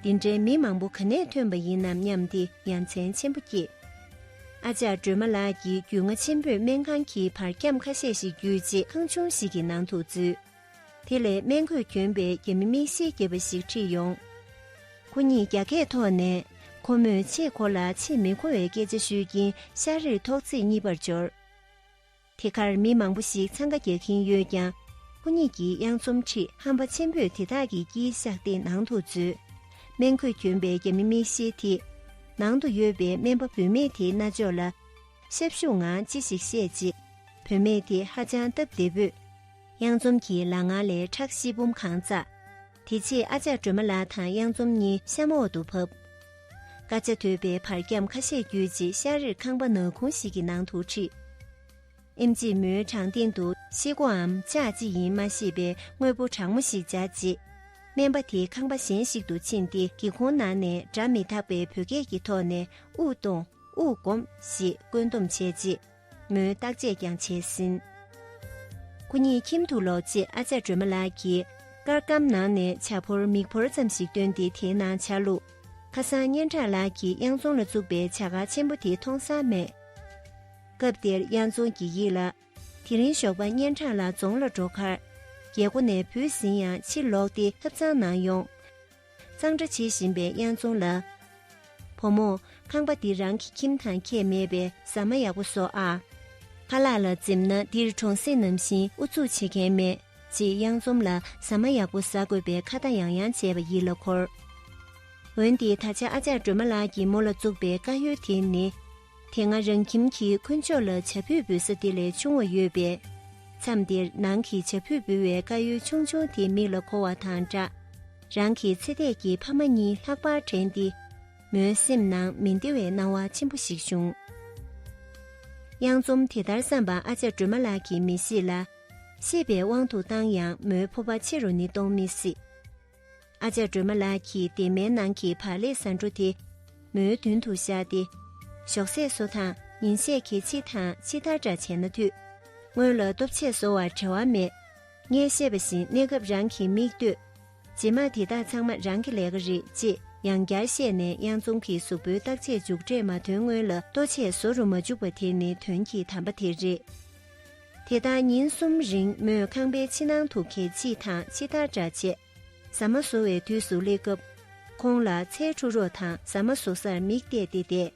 འདི་འདྲའི་མི་མང་པོ་ག་ནས་ཐོན་པ་ཡིན་ནམ་སྙམ་སྟེ་ཡ་མཚན་ཆེན་པོ་སྐྱེས། ཨ་ཅག་སྒྲོལ་མ་ལགས་ཀྱིས་རྒྱུས་མངའ་ཆེན་པོས་སྨན་ཁང་གི་བར་ཁྱམས་ཁ་ཤས་ཤིག་བརྒྱུད་རྗེས་ཁང་ཆུང་ཞིག་གི་ནང་དུ་འཛུལ། དེ་ལས་སྨན་གོས་གྱོན་པའི་རྒྱ་མི་མིག་ཤེལ་རྒྱས་པ་ཞིག་ཁྲིད་ཡོང། ཁོ་གཉིས་རྒྱ་སྐད་ཐོག་ནས་ཁོ་མོས་ཆེས་ཁོ་ལ་ཆེས་མི་མཁོ་བའི་སྐད་ཆ་ཤོད་ཀྱིན་ཤར་རིར་ཐོག་བརྩེགས་གཉིས་པར་འབྱོར། དེ་གར་མི་མང་པོ་ཞིག་འཚང་ཁ་རྒྱག་གིན་ཡོད་ཀྱང་ཁོ་གཉིས་ཀྱིས་གཡང་འཛོམས་ཁྲིད་ཧམ་པ་ཆེན་པོས་དེ་དག་གི་དཀྱིལ་བཤགས་སྟེགས་ནང་དུ་འཛུལ། སྨན་གོས་གྱོན་པའི་རྒྱ་མི་མིག་ཤེལ་དེས་ནང་དུ་ཡོད་པའི་སྨན་པ་བུད་མེད་དེའི་རྣ་ཅོག་ལ་ཤབ་ཤུབ་ངང་ཅི་ཞིག་བཤད་རྗེས་བུད་མེད་དེ་ཧ་ཅང་སྟབས་བདེ་པོས། གཡང་འཛོམས་ཀྱི་ལག་ངར་ལས་ཁྲག་བཞི་འབུམ་གང་བཙའ། དེ་རྗེས་ཨ་ཅག་སྒྲོལ་མ་ལགས་དང་གཡང་འཛོམས་གཉིས་གཤམ་འོག་ཏུ་ཕབ། དཀར་ཆ་དོད་པའི་བར་ཁྱམས་ཁ་ཤས་བརྒྱུད་རྗེས་ཤར་རེར་ཁང་པ་ནག་ཁུང་ཞིག་གི་ནང་དུ་ཁྲིད། ཨིམ་རྗེས་མོའི་བྲང་སྟེང་དུ་ཤེལ་སྒོའམ་ལྕགས་ཅི་ཡིན་མ་ཤེས་པའི་དངོས་པོ་གྲང་མོ་ཞིག་བྱ་རྗེས། སྨན་པ་དེ་ཁང་པ་གཞན་ཞིག་ཏུ་ཕྱིན་ཏེ་སྒེའུ་ཁུང་ནང་ནས་སྒྲ་མི་དག་པའི་བོད་སྐད་ཀྱི་ཐོག་ནས་དབུགས་གཏོང་དབུགས་སྒོམ་ཞེས་བཀོད་འདོམས་བྱས་རྗེས། མོའི་བརྟག་དཔྱད་ཀྱང་བྱས་ཟིན། ཁོ་གཉིས་ཁྱིམ་དུ་ལོག་རྗེས་ཨ་ཅག་སྒྲོལ་མ་ལགས་ཀྱིས་སྐར་སྒམ་ནང་ནས་བྱ་ཕོར་མིག་ཕོར་ཙམ་ཞིག་བཏོན་ཏེ་དེའི་ནང་ཆ་བླུགས། ཁ་སང་སྙན་གྲགས་ལགས་ཀྱིས་གཡང་རྫོང་ལ་བཙུགས་པའི་བྱ་གག་ཆེན་པོ་དེ་མཐོང་ས་མེད། སྐབས་དེར་གཡང་རྫོང་གི་ཡིད་ལ། དེ་རིང་ཞོགས་པ་སྙན་གྲགས་ལགས་རྫོང་ལ་འགྲོ་ཁར། རྒྱལ་སྒོ་ནས་བུད་ཟིན་ཡང་ཕྱིར་ལོག་སྟེ་ཐབ་ཚང་ནང་ཡོང། གཙང་སྦྲ་བྱེད་བཞིན་པའི་དབྱངས་རྫོང་ལ། བུ་མོ། ཁང་པ་འདི་རང་གི་ཁྱིམ་དང་ཁྱད་མེད་པས་ཟ་མ་ཡག་པོ་ཟོ་ཨ། ཕ་ལགས་ལ་འཛེམ་ན་འདིར་གྲོང་གསེབ་ནམ་བཞིན་ཨུ་ཚུགས་བྱེད་མཁན་མེད། ཅེས་དབྱངས་རྫོང་ལ་ཟ་མ་ཡག་པོ་ཟ་དགོས་པའི་ཁ་བརྡ་ཡང་ཡང་བྱས་པ་ཡིད་ལ་འཁོར། འོན་ཏེ་ད་ཆ་ཨ་ཅག་སྒྲོལ་མ་ལགས་ཀྱིས་མོ་ལ་བཙུགས་པའི་དཀའ་ཡུལ་དེ་ནི། དེ་སྔ་རང་ཁྱིམ་གྱི་དཀོན་མཆོག་ལ་བྱ་ཕུད་འབུལ་ས་དེ་ལས་ཆུང་བ་ཡོད་པས། མཚམས་དེར་ནང་གི་བྱ་ཕུད་འབུལ་བའི་དཀར་ཡོལ་ཆུང་ཆུང་དེ་མིག་ལ་འཁོར་བ་དང་འདྲ། རང་གི་ཚེ་འདས་ཀྱི་ཕ་མ་གཉིས་ལྷག་པར་དྲན་ཏེ། མོའི་སེམས་ནང་མི་བདེ་བའི་སྣང་བ་ཆེན་པོ་ཞིག་བྱུང། གཡང་འཛོམས་དེ་ལྟར་བསམས་པ་ཨ་ཅག་སྒྲོལ་མ་ལགས་ཀྱིས་མི་ཤེས་ལ། ཤེས་པའི་དབང་དུ་བཏང་ཡང་མོའི་ཕོ་བ་ཕྱི་རུ་ནི་གཏོང་མི་སྲིད། ཨ་ཅག་སྒྲོལ་མ་ལགས་ཀྱིས་སྡེར་མའི་ནང་གི་བག་ལེབ་ཟ་འཕྲོ་དེ་མོའི་མདུན་དུ་བཞག་སྟེ། ཞོགས་ཟས་བཟོ་དང་ཉིན་ཤས་གི་ཕྱི་དང་ཕྱི་ལྟར་འདྲ་བྱས་ན་འཐུས། སྔོན་ལ་སྟོབས་ཆེ་བཟོ་བར་བྲེལ་བ་མེད། ངས་བཤད་པ་བཞིན་གནས་སྐབས་རང་གིས་མིག་ལྟོས། རྗེས་མ་དེ་དག་ཚང་མ་རང་གི་ལས་ཀ་རེད་ཅེས་ཡང་བསྐྱར་བཤད་ནས་གཡང་འཛོམས་ཀྱི་གཟུགས་པོའི་བརྟག་དཔྱད་མཇུག་འབྲས་མ་ཐོན་སྔོན་ལ་ལྟོ་ཆས་བཟོ་རུ་མ་འཇུག་པ་དེ་ནི་དོན་གྱི་དམ་པ་དེ་རེད། དེ་ལྟར་ཉིན་གསུམ་རིང་མོས་ཁང་པའི་ཕྱི་ནང་དུ་གད་ཕྱིས་དང་ཕྱི་ཐར་འདྲ་བྱས། ཟ་མ་བཟོ་བའི་དུས་སུ་སླེབས་སྐབས། ཁོང་ལ་ཚའི་འཁྲུ་རོགས་དང་ཟ་མ་བཟོ་སར་མིག་བལྟས་ཏེ་བསྡད།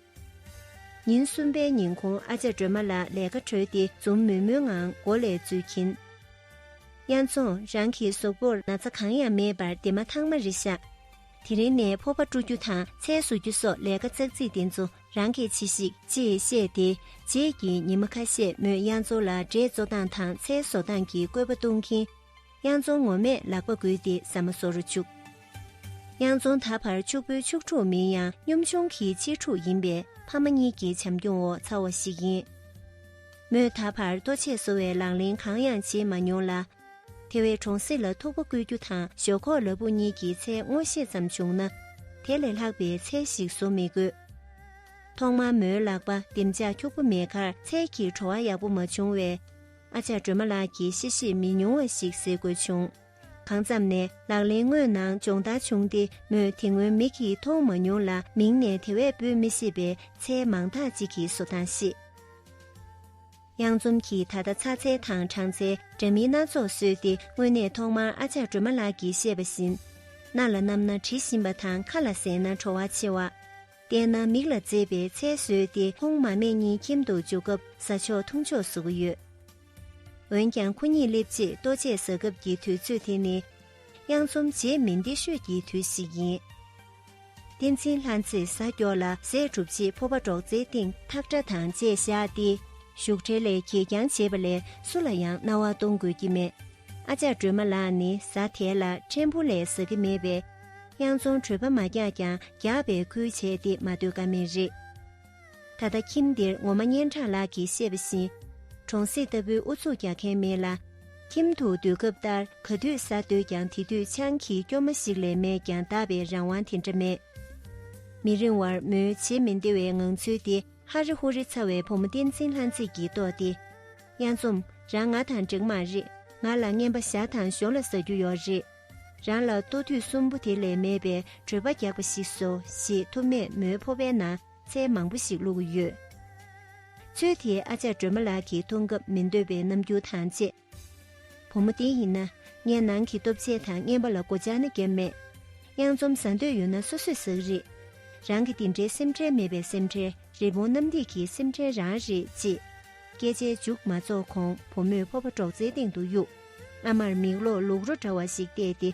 ཉིན་གསུམ་པའི་ཉིན་ཁོང་ཨ་ཅག་སྒྲོལ་མ་ལགས་ལས་ཀ་གྲོལ་ཏེ་འཛུམ་དམུལ་དམུལ་ངང་སྒོ་ལས་འཛུལ་གྱིན། གཡང་འཚོང་རང་གི་ཟོག་པོར་ན་ཚ་གང་ཡང་མེད་པར་དེ་མ་ཐག་མ་རི་བཞག། དེ་རིང་ནས་ཕོར་པ་བཀྲུ་རྒྱུ་དང་ཚལ་བཟོ་རྒྱུ་སོགས་ལས་ཀ་ཙག་ཙིག་དེ་ཚོ་རང་གིས་བྱས་ཤིག་ཅེས་བཤད་དེ་རྗེས་ཀྱི་ཉིན་མ་ཁ་ཤས་མོས་གཡང་མཚོ་ལ་འབྲས་བཙོ་སྟངས་དང་ཚལ་བཟོ་སྟངས་ཀྱི་བཀོད་པ་གཏོང་གིན། གཡང་མཚོ་ངོ་མས་ལག་པ་བསྒུལ་ཏེ་ཟ་མ་བཟོ་རུ་བཅུག། གཡང་མཚོ་ད་བར་ཕྱུག་པོའི་ཕྱུག་ཕྲུག་མིན་ཡང་གཉོམ་ཆུང་གི་གཅེས་ཕྲུག་ཡིན་པས་ཕ་མ་གཉིས་ཀྱི་བྱམས་སྐྱོང་འོག་འཚར་བ་ཞིག་ཡིན། མོས་ད་བར་ལྟོ་ཆས་བཟོ་བའི་ལག་ལེན་གང་ཡང་བྱེད་མ་མྱོང་ལ། དེ་བས་གྲོང་གསེབ་ལ་ཐུག་པ་བཀོལ་རྒྱུ་དང་ཞོག་ཁོག་ལ་བུ་གཉིས་ཀྱི་ཚད་མངོན་ཤེས་ཙམ་བྱུང་ན། དེ་ལས་ལྷག་པའི་ཚད་ཞིག་བཟོ་མི་དགོས། ཐོག་མར་མོའི་ལག་པ་ལྡེམ་ལྕག་འཁྱུག་པོ་མེད་ཁར་ཚལ་གྱི་བྲོ་བ་ཡག་པོ་མ་བྱུང་བས། ཨ་ཅག་སྒྲོལ་མ་ལགས་ཀྱིས་གཤེ་གཤེ་མི་ཉུང་བ་ཞིག་བཟོས་དགོས་བྱུང། གང་མཚམས་ནས་ལག་ལེན་དངོས་ནང་སྦྱོང་བརྡར་བྱུང་སྟེ་མོས་དེ་སྔོན་མིག་གིས་མཐོང་མ་མྱོང་ལ་མིང་ནས་དེ་བས་འབོད་མི་ཤེས་པའི་ཚལ་མང་དག་ཅིག་གི་བཟོ་སྟངས་ཤེས། གཡང་འཛོམས་ཀྱིས་ད་ལྟ་ཚ་ཚེ་དང་གྲངས་ཚེ་འདྲ་མིན་སྣ་ཚོགས་བཟོས་ཏེ་དངོས་གནས་ཐོག་མར་ཨ་ཅག་སྒྲོལ་མ་ལགས་ཀྱིས་བཤད་པ་བཞིན། སྣ་ལ་བསྣམས་ན་དྲི་ཞིམ་པ་དང་ཁ་ལ་ཟས་ན་བྲོ་བ་ཆེ་བ། བལྟས་ན་མིག་ལ་མཛེས་པའི་ཚལ་བཟོས་ཏེ་ཁོང་མ་མེད་གཉིས་ཁྱིམ་དུ་འཇུག་སྐབས་ཟ་ཆོག་འཐུང་ཆོག་བཟོ་གི་ཡོད། འོན་ཀྱང་ཁོ་གཉིས་སླེབས་རྗེས་ལྟོ་ཆས་ཟ་སྐབས་ཀྱི་དུས་ཚོད་དེ་ནི། དབྱངས་རྩོམ་རྗེས་མི་འདི་ཤོད་ཀྱི་དུས་ཤིག་ཡིན། བསྟན་འཛིན་ལྷ་མཚེས་ཟ་ཀྱོག་ལ་ཟས་བསྒྲུབ་རྗེས་ཕོར་པ་སྒྲོག་ཙེའི་སྟེང་ཐག་སྒྲ་དང་བཅས་བཞག་སྟེ་བཞུགས་གྲལ་ལས་གྱེས་རྐྱང་བྱེད་པ་ལས་སུ་ལ་ཡང་རྣ་བ་གཏོང་དགོས་ཀྱི་མེད། ཨ་ཅག་སྒྲོལ་མ་ལགས་ནི་ཟ་དལ་ལ་ཕྲན་བུ་ལས་ཟ་གི་མེད་པས། དབྱངས་རྩོམ་གྲོད་པ་མ་རྒྱག་ཀྱང་རྒྱག་པའི་ཁུལ་བྱས་ཏེ་མ་སྡོད་ཀ་མེད་རེད། ད་ལྟ་ཁྱིམ་འདིར་ངོ་མ་སྙན་གྲགས་ལགས་ཀྱིས་བཤད་པ་བཞིན་གྲོང་གསེབ་ལྟ་བུའི་ཨུ་ཚུགས་རྒྱག་མཁན་མེད་ལ། ཁྱིམ་དུ་སྡོད་སྐབས་ལྟར་ག་དུས་ཟ་འདོད་ཀྱང་དེ་དུས་ཆང་གི་སྐྱོ་མ་ཞིག་ལས་མེད་ཀྱང་བདག་པའི་རང་དབང་དེ་འདྲ་མེད། མི་རིང་བར་མོའི་བྱེད་མི་བདེ་བའི་ངང་ཚུལ་དེ་ཧ་རེ་ཧུ་རེ་ཚ་བའི་བུ་མོ་བསྟན་འཛིན་ལྷ་མཛེས་ཀྱིས་རྟོགས་ཏེ། གཡང་འཛོམས་རང་ང་དང་འགྲིག་མ་རེད་ང་ལ་རྔན་པ་བཞག་དང་ཞོ་ལ་ཟ་རྒྱུ་ཡོད་རེད། རང་ལ་ལྟོ་དུས་གསུམ་པོ་དེ་ལས་མེད་པའི་བྲོད་པ་རྒྱག་པ་ཞིག་བཟོ་ཞེས་ཐུབ་མས་མོའི་ཕོ་བའི་ནང་ཚལ་མང་པོ་ཞིག་བླུགས་ཀྱི་ཡོད། ཚུལ་དེའི་ཨ་ཅག་སྒྲོལ་མ་ལགས་ཀྱིས་མཐོང་སྐབས་མི་འདོད་པའི་རྣམ་འགྱུར་དང་བཅས། བུ་མོ་དེ་ཡིན་ན་ངས་ནང་གི་སྟོབས་ཆས་དང་རྔན་པ་ལ་སྒོ་བཅག་ན་བརྒྱབ་མེད། གཡང་འཛོམ་ཟ་འདོད་ཡོད་ན་སོ་སོས་ཟགས་རེད། རང་གི་འདི་འདྲའི་སེམས་ཁྲལ་མེད་པའི་སེམས་ཁྲལ་རི་བོང་གནམ་རྡིབ་ཀྱི་སེམས་ཁྲལ་རང་རེད་ཅེས། སྐད་ཆའི་མཇུག་མ་རྫོགས་གོང་བུ་མོས་ཕོ་བ་སྒྲོག་ཙེའི་སྟེང་དུ་གཡུགས། བླ་མར་མིག་ལོག་ལུག་རོ་འདྲ་བ་ཞིག་བལྟས་ཏེ།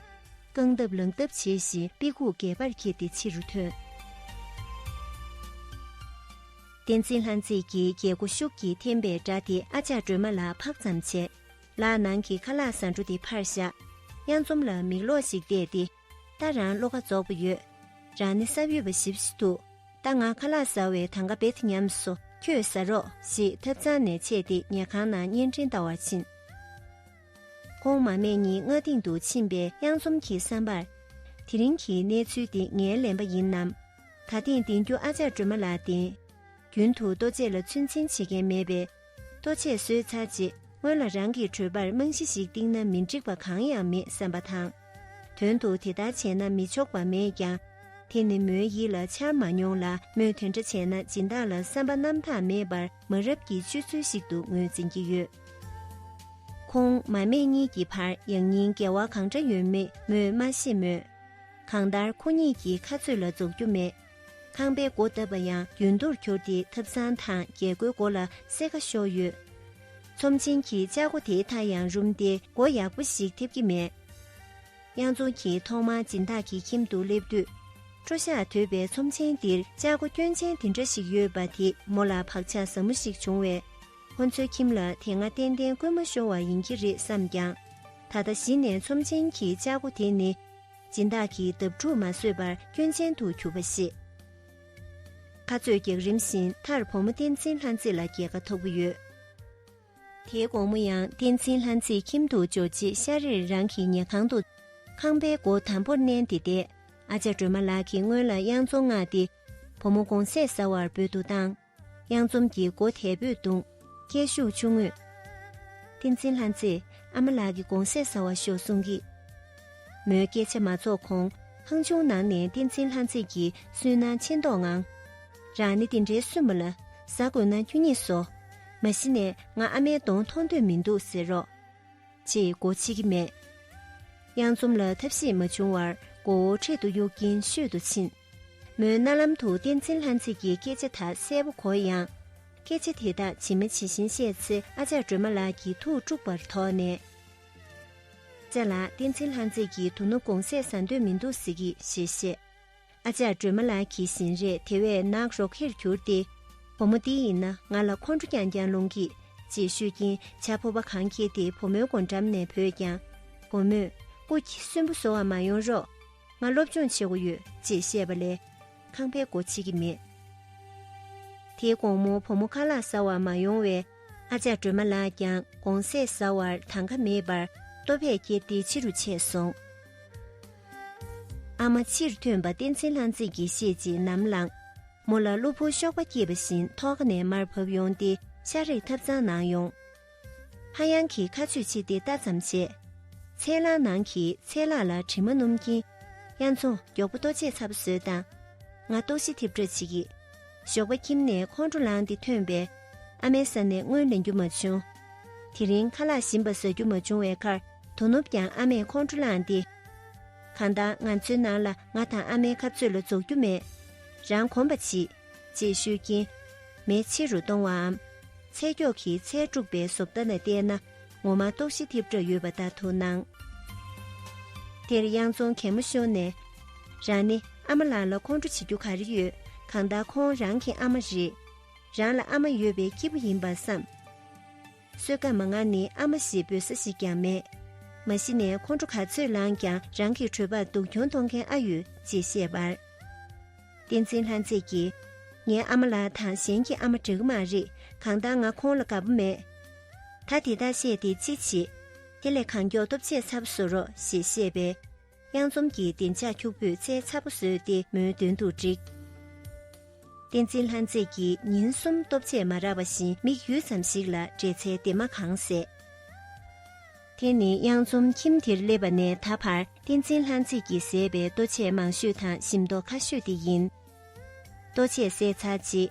རྐང་སྟབས་ལངས་སྟབས་བྱེད་བཞིན་དཔེ་ཁུག་འགས་པར་འཁྱེར་ཏེ་ཕྱི་རུ་ཐོན། བསྟན་འཛིན་ལྷ་མཛེས་ཀྱིས་རྒྱལ་སྒོ་ཤུགས་ཀྱིས་འཐེན་པའི་སྒྲ་དེ་ཨ་ཅག་སྒྲོལ་མ་ལ་འཕགས་ཙམ་བྱས། ལག་ནང་གི་ཁ་ལག་ཟ་འབྲུ་དེ་ཕར་བཞག། གཡའ་འཛོམས་ལ་མིག་ལོག་ཞིག་བལྟས་ཏེ། ད་རང་བློ་ཁ་རྫོགས་པ་ཡོད། རང་ནི་བསམ་ཡོད་པ་ཞིབ་བཞི་འདུག་ད་ང་ཁ་ལག་ཟ་བའི་ཐང་ག་བེད་ཉམས་སོ་ཁྱོས་ཟ་རོགས་ཞེས་ཐབ་ཚང་ནས་ཆས་ཏེ་ཉལ་ཁང་ནང་བརྙན་འཕྲིན་ལྟ་བར་ཕྱིན། ཁོང་མ་མེད་གཉིས་ང་སྟེང་དུ་ཕྱིན་པའི་དབྱངས་འཛོམས་ཀྱིས་བསམ་པར། དེ་རིང་གི་གནས་ཚུལ་འདི་ངའི་ལན་པ་ཡིན་ནམ། ད་ཐེངས་འདེང་རྒྱུ་ཨ་ཅག་སྒྲོལ་མ་ལགས་བདེན། རྒྱུན་དུ་ལྟོ་ཆས་ལ་ཚོད་འཛིན་བྱེད་མཁན་མེད་པས། ལྟོ་ཆས་གསོས་ཚར་རྗེས་སྔོན་ལ་རང་གི་གྲོད་པར་རྨང་གཞི་ཞིག་བཏིང་ན་མི་འགྲིག་པ་གང་ཡང་མེད་བསམ་པ་དང། དོན་དུ་དེ་ལྟར་བྱས་ན་མི་ཆོག་པ་མེད་ཀྱང། དེ་ནི་མོའི་ཡིད་ལ་འཆར་མ་མྱོང་ལ་མོས་དེ་འདྲ་བྱས་ན་སྦྱིན་བདག་ལ་བསམ་པ་རྣམ་དག་མེད་པར་མ་རབས་ཀྱི་སྤྱོད་ཚུལ་ཞིག་ཏུ་ངོས་འཛིན་གྱི་ཡོད། ཁོང་མ་སྨད་གཉིས་ཀྱི་བར་ཡང་སྙིང་འགལ་བ་གང་འདྲ་ཡོད་མེད་མོས་མ་ཤེས་མོད། གང་ལྟར་ཁོ་གཉིས་ཀྱི་ཁ་རྩོད་ལ་རྫོགས་རྒྱུ་མེད། ཁང་པའི་སྒོ་བཏབ་པ་ཡང་རྒྱུན་གཏོར་གྱུར་ཏེ་ཐབ་ཚང་དང་རྒྱལ་སྒོའི་སྒོ་ལ་གསེར་ཁ་ཤོར་ཡོད། ཚོམས་ཆེན་གྱི་ལྕགས་སྒོ་དེའི་མཐའ་ཡང་རུམ་སྟེ་སྒོ་ཡག་པོ་ཞིག་ཐེབས་ཀྱི་མེད། གཡང་འཛོམས་ཀྱིས་ཐོག་མར་སྦྱིན་བདག་གི་ཁྱིམ་དུ་སླེབས་དུས། སྤྲོ་ཤ་དོད་པའི་ཚོམས་ཆེན་འདིར་ལྕགས་སྒོ་སྐྱོན་ཅན་དེ་འདྲ་ཞིག་ཡོད་པ་དེས་མོ་ལ་བག་ཆགས་ཟབ་མོ་ཞིག་བྱུང་བས། ཁོ་ཚོའི་ཁྱིམ་ལ་དེ་སྔ་ཏན་ཏན་རྐུན་མ་ཤོར་བ་ཡིན་གྱི་རེད་བསམས་ཀྱང། ད་ལྟ་གཞི་ནས་ཚོམས་ཆེན་གྱི་ལྕགས་སྒོ་དེ་ནི། སྦྱིན་བདག་གི་འདབ་དྲུག་མ་བཟོད་པར་སྐྱོན་ཅན་དུ་གྱུར་པ་ཞིག། ཁ་རྩོད་བགེགས་རིམ་བཞིན་མཐར་བུ་མོ་བསྟན་འཛིན་ལྷ་མཛེས་ལ་རྒྱལ་ཁ་ཐོབ་ཡོད། དེའི་དགོང་མོ་ཡང་བསྟན་འཛིན་ལྷ་མཛེས་ཁྱིམ་དུ་འབྱོར་རྗེས་ཤར་རིར་རང་གི་ཉལ་ཁང་དུ། ཁང་པའི་སྒོ་དམ་པོར་མནན་ཏེ་བསྡད། ཨ་ཅག་སྒྲོལ་མ་ལགས་ཀྱིས་སྔོན་ལ་དབྱངས་རྫོང་མངགས་ཏེ། བུ་མོ་དགོང་ཟས་ཟ་བར་འབོད་དུ་བཏང། གཡང་འཛོམས་ཀྱི་མགོ་དལ་བུས་བརྡུངས། སྐད་ཤུགས་ཆུང་ངུས། བསྟན་འཛིན་ལྷ་མཛེས་ཨ་མ་ལགས་ཀྱི་དགོང་ཟས་བཟའ་བ་ཤོག་གསུངས་ཀྱི། མོའི་སྐད་ཆ་མ་རྫོགས་གོང་ཧང་ཆུང་ནང་ནས་བསྟན་འཛིན་ལྷ་མཛེས་ཀྱིས་སུན་སྣང་ཆེ་མདོག་ངང། རང་ནི་དེ་འདྲའི་སུན་མོ་ལ་བཟའ་དགོས་ན་ཁྱོད་གཉིས་ཟོ། མ་གཞི་ནས་ང་ཨ་མའི་གདོང་མཐོང་འདོད་མི་འདུག་ཟེར་རོགས། ཅེས་མགོ་ཕྱེ་གི་མེད། གཡང་འཛོམས་ལ་ཐབས་ཤེས་མ་བྱུང་བར་མགོ་བོ་འཕྲེད་དུ་གཡུག་གིན་ཤོད་དུ་ཕྱིན། མོའི་རྣ་ལམ་དུ་བསྟན་འཛིན་ལྷ་མཛེས་ཀྱི་སྐད་ཆ་དག་གསལ་པོ་གོ་ཡང། སྐད་ཆ་དེ་དག་ཇི་མ་ཇི་བཞིན་བཤད་ཚེ་ཨ་ཅག་སྒྲོལ་མ་ལགས་ཀྱིས་ཐུགས་དཀྲུགས་པར་དོགས་ནས། ཅག་ལགས་བསྟན་འཛིན་ལྷ་མཛེས་ཀྱིས་དོ་ནུབ་དགོང་ཟས་ཟ་འདོད་མི་འདུག་ཟེར་གི་ཞེས་བཤད། ཨ་ཅག་སྒྲོལ་མ་ལགས་ཀྱིས་བཞིན་རས་དེ་བས་ནག་རོག་གེར་གྱུར་ཏེ། བུ་མོ་འདི་ཡིན་ན་ང་ལ་ཁོང་ཁྲོ་རྐྱང་རྐྱང་སློང་གི། ཅེས་ཤོད་ཀྱིན་ཇག་ཕོར་པ་གང་ཁྱེར་ཏེ་བུ་མོའི་སྒོ་འགྲམ་ནས་བུད་ཀྱང། བུ་མོས། སྐུ་གསོན་པོ་བཟོ་བ་མ་ཡོང་རོགས། ང་སློབ་སྦྱོང་བྱེད་དགོས་ཡོད་ཅེས་བཤད་པ་ལས། ཁང་པའི་སྒོ་ཕྱེ་གི་མེད། དེའི་དགོང་མོ་བུ་མོ་ཁ་ལག་ཟ་བར་མ་ཡོང་བས། ཨ་ཅག་སྒྲོལ་མ་ལགས་ཀྱང་དགོང་ཟས་ཟ་བར་ཐང་ཀ་མེད་པར་ལྟོ་ཕད་བསྐྱེལ་ཏེ་ཕྱི་རུ་ཆས་སོང། ཨ་མ་ཕྱིར་ཐོན་པ་བསྟན་འཛིན་ལྷ་མཛེས་ཀྱིས་ཤེས་རྗེས་ནམ་ལངས། མོ་ལ་གློ་བུར་གཤོག་པ་སྐྱེས་པ་བཞིན་ཐོག་ཁ་ནས་མར་བབས་ཡོང་སྟེ་ཤ་རེག་ཐབས་ཚང་གནང་ཡོང། ཧ་ཡང་གིས་ཁ་ཆུས་ཕྱིས་ཏེ་ལྟ་ཙམ་བྱས། ཚལ་ལག་ནང་གི་ཚལ་ལག་ལ་དྲི་མ་སྣུམ་གྱིན། དབྱར་མཚོ་མགྱོགས་པོ་ལྟོ་ཆས་ཚ་པོ་ཟོས་དང། ང་ལྟོགས་ཤི་ཐེབས་འདྲ་བྱེད་ཀྱི། ཞོགས་པ་ཁྱིམ་ནས་ཁོང་ཁྲོ་ལངས་ཏེ་ཐོན་པས། ཨ་མའི་ས་ནས་སྔོན་ལེན་རྒྱུ་མ་བྱུང། དེ་རིང་ཁ་ལག་ཞིམ་པ་བཟའ་རྒྱུ་མ་བྱུང་བའི་ཁར་དོ་ནུབ་ཀྱང་ཨ་མས་ཁོང་ཁྲོ་ལངས་ཏེ། གང་ལྟར་ང་ཚོའི་ནང་ལ་ང་དང་ཨ་མའི་ཁ་རྩོད་ལ་རྫོགས་རྒྱུ་མེད། རང་གོམས་པ་བྱེད། ཅེས་ཤོད་ཀྱིན། མེ་ཆེ་རུ་གཏོང་བའམ། ཚད་མགྱོགས་ཀྱིས་ཚད་དཀྲུགས་པའི་བཟོ་ལྟ་ནས་བལྟས་ན་ངོ་མ་ལྟོགས་ཤི་ཐེབས་གྲབས་ཡོད་པ་ལྟར་དུ་སྣང། དེར་གཡང་རྫོང་གད་མོ་ཤོར་ནས། རང་ནི་ཨ་མ་ལགས་ལ་ཁོང་ཁྲོ་བྱེད་རྒྱུ་ག་རེ་ཡོད་གང་ལྟར་ཁོང་རང་གི་ཨ་མ་རེད། རང་ལ་ཨ་མ་ཡོད་པའི་སྐྱིད་པོ་ཡིན་པར་བསམས། བསོད་སྐམ་མ་ང་ནི་ཨ་མ་ཞེས་འབོད་ས་ཞིག་ཀྱང་མེད། མ་གཞི་ནས་ཁོང་ཁྲོ་ག་ཚོད་ལངས་ཀྱང་རང་གི་གྲོད་པར་སྡུག་གྱོང་གཏོང་མཁན་ཨ་ཡོད་ཅེས་བཤད། བསྟན་འཛིན་ལྷ་མཛེས་ཀྱིས། ངའི་ཨ་མ་ལགས་དང་གཞན་གྱི་ཨ་མ་འདྲ་གི་མ་རེད་གང་ལྟར་ང་ཁོང་ལ་དགའ་པོ་མེད། ད་དེ་དག་བཤད་དེ་ཅི་བྱེད། དེ་ལས་གང་མགྱོགས་སྟོབས་ཆེ་ཚབ་བཟོ་རོགས་ཞེས་བཤད་པས། གཡང་འཛོམས་ཀྱི་བདེ་འཇགས་ཁྱུག་པོས་རྩྭའི་ཚ་པོ་བཟོས་ཏེ་མོའི་མདུན་དུ་བསྒྲིགས། བསྟན་འཛིན་ལྷ་མཛེས་ཀྱིས་ཉིན་གསུམ་སྟོབས་ཆེས་མ་རག་པ་བཞིན་མིག་ཡུད་ཙམ་ཞིག་ལ་འབྲས་ཚལ་སྡེར་མ་གང་བཟས། དེ་ནི་གཡང་འཛོམས་ཁྱིམ་དེར་སླེབས་པ་ནས་ད་བར་བསྟན་འཛིན་ལྷ་མཛེས་ཀྱིས་བཟས་པའི་ལྟོ་ཆས་མང་ཤོས་དང་ཞིམ་མདོག་ཁ་ཤོས་དེ་ཡིན། ལྟོ་ཆས་བཟས་ཚར་རྗེས།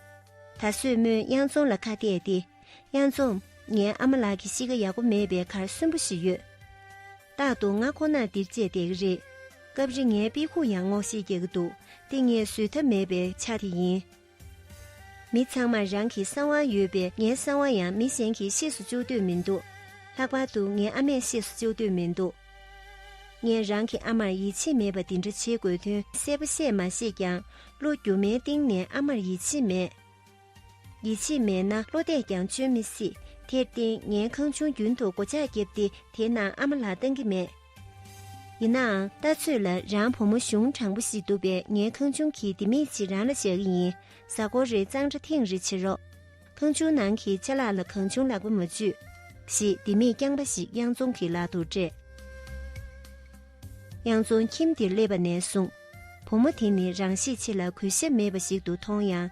ད་གཟོད་མོས་གཡང་འཛོམས་ལ་ཁ་གཏད་དེ། གཡང་འཛོམས། ངའི་ཨ་མ་ལགས་ཀྱི་གཤིས་ཀ་ཡག་པོ་མེད་པའི་ཁར་གསོན་པོ་ཞིག་ཡོད། རྟག་ཏུ་ང་ཁོ་ནར་འདིར་བཅད་བསྡད་ཀྱི་རེད། སྐབས་རེ་ངའི་དཔེ་ཁུག་ཡང་སྔོག་བཤེར་རྒྱག་གི་འདུག་དེ་ངས་བཟོད་ཐབས་མེད་པའི་ཆ་དེ་ཡིན། མི་ཚང་མར་རང་གི་གསང་བ་ཡོད་པས་ངའི་གསང་བ་ཡང་མི་གཞན་གྱིས་ཤེས་སུ་བཅུག་འདོད་མི་འདུག་ལྷག་པར་དུ་ངའི་ཨ་མས་ཤེས་སུ་བཅུག་འདོད་མི་འདུག་ངས་རང་གི་ཨ་མར་ཡིད་ཆེས་མེད་པ་འདི་འདྲ་བྱེད་དགོས་དོན་གསལ་པོ་བཤད་མ་ཤེས་ཀྱང་གློ་རྒྱུ་མའི་སྟེང་ནས་ཨ་མར་ཡིད་ཆེས་མེད། ཡིད་ཆེས་མེད་ན་བློ་གཏད་ཀྱང་བཅོལ་མི་སྲིད། དེར་བརྟེན་ངའི་ཁང་ཆུང་རྒྱུན་དུ་སྒོ་ལྕགས་བརྒྱབ་སྟེ་དེའི་ནང་ཨ་མ་ལགས་བཏང་གི་མེད། ཡིན་ནའང་ལྟ་ཚོད་ལ་རང་བུ་མོ་གཞུང་དྲང་པོ་ཞིག་འདུག་པས་ངའི་ཁང་ཆུང་གི་ལྡེ་མིག་ཅིག་རང་ལ་བཞག་གི་ཡིན། གཟའ་འཁོར་རེའི་གཙང་སྦྲ་ཐེངས་རེ་བྱེད་རོགས། ཁང་ཆུང་ནང་གི་ཆ་ལག་ལ་གང་བྱུང་ལག་པ་མ་འཇུས། ཞེས་ལྡེ་མིག་རྐྱང་པ་ཞིག་གཡང་རྫོང་གི་ལག་ཏུ་སྤྲད། གཡང་རྫོང་ཁྱིམ་དེར་སླེབས་པ་ནས་བཟུང། བུ་མོ་དེ་ནི་རང་ཤེད་ཆེ་ལ་གུས་ཞབས་མེད་པ་ཞིག་ཏུ་མཐོང་ཡང།